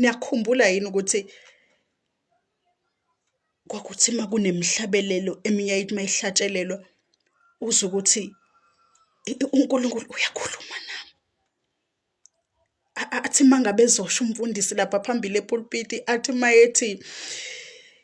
niyakhumbula yini ukuthi kwakuthi uma kunemhlabelelo eminye ayithi uma ihlatshelelwa uze ukuthi uNkulunkulu uyakhuluma nami athi mangabe ezosho umfundisi lapha phambili epulpiti athi mayethi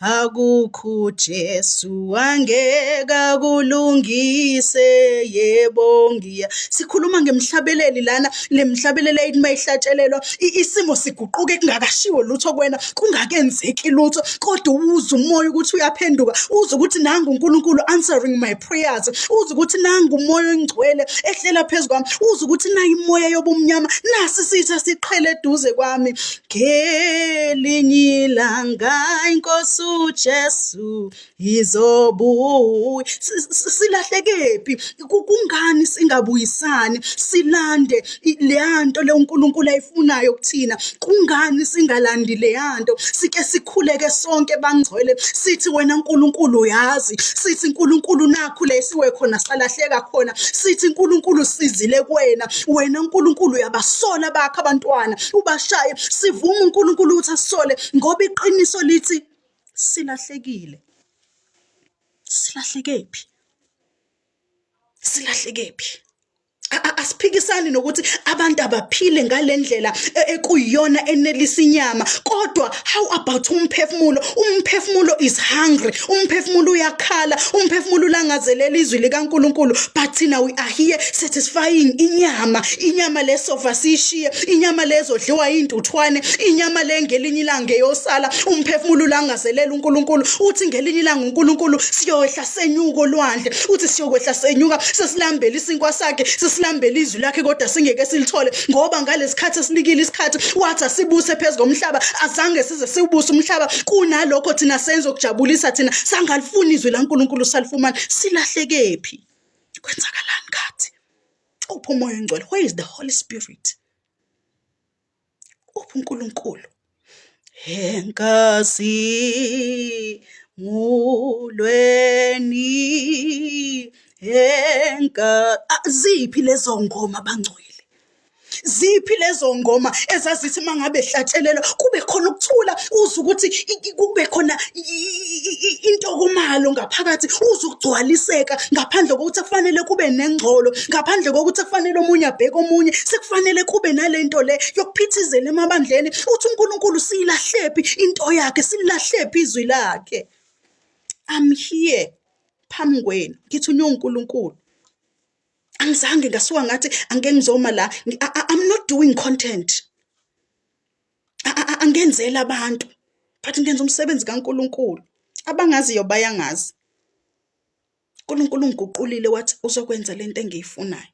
akukho Jesu angeke akulungise yebo ngiya sikhuluma ngemhlabeleli lana lemhlabeleli ayithi mayihlatshelelwa isimo siguquke kungakashiwo lutho kwena kungakenzeki lutho kodwa uwuza umoya ukuthi uyaphenduka uza ukuthi nangu uNkulunkulu answering my prayers uza ukuthi nangu umoya ongcwele ehlela phezu kwami uza ukuthi nayi imoya yobumnyama nasi sitha siqhele eduze kwami ngelinye ilanga inkosi uJesu izobuya silahlekephi kungani singabuyisani silande leyanto le uNkulunkulu ayifunayo kuthina kungani singalandi leyanto sike sikhuleke sonke bangcwele sithi wena uNkulunkulu uyazi sithi uNkulunkulu nakho lesiwe khona salahleka khona sithi uNkulunkulu sizile kuwena wena uNkulunkulu uyabasola bakho abantwana ubashaye sivume uNkulunkulu ukuthi asisole ngoba iqiniso lithi silahlekile silahleke phi silahleke phi asiphikisani nokuthi abantu abaphile ngalendlela e, ekuyiyona enelisa inyama kodwa How about umphefumulo? Umphefumulo is hungry. Umphefumulo uyakhala, umphefumulo ulangazelela izwi likaNkuluNkulu. But thina we are here satisfying inyama. Inyama lesofa sishiye, inyama lezodliwa induthwane, inyama lengelinye ilanga eyosala. Umphefumulo ulangazelela uNkuluNkulu. Uthi ngelinye ilanga uNkuluNkulu siyohla senyuka olwandle uthi siyokwehla senyuka sesilambela isinkwa sakhe sesilambela izwi lakhe kodwa singeke silithole ngoba ngalesikhathi esinikile isikhathi wathi asibuse phezu komhlaba azange size siwubuse umhlaba kunalokho thina senze okujabulisa thina sangalifuni izwi laNkulunkulu salifumana silahlekephi kwenzakalani kathi uphi umoya ongcwele where is the holy spirit ubuNkulunkulu enkazi mulweni enka ziphi lezo ngoma bangcwele ziphi lezo ngoma ezazithi mangabe hlatshelelwa kube khona ukuthula uzwe ukuthi kube khona intokomalo ngaphakathi uzugcwaliseka ngaphandle kokuthi kufanele kube nengcolo ngaphandle kokuthi kufanele omunye abheke omunye sekufanele kube nalento le yokuphithizela emabandleni uthi uNkulunkulu siyilahlephi into yakhe silahlephi izwi lakhe i'm here phambi kwenu ngithi unyo uNkulunkulu angizange ngasuka ngathi angeke ngizoma la i'm not doing content angenzeli abantu but ngenza umsebenzi kaNkuluNkulu abangaziyo bayangazi uNkulunkulu ungiguqulile wathi uzokwenza lento engiyifunayo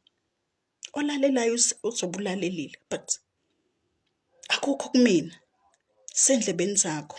olalelayo uzobulalelile but akukho kumina sendlebeni zakho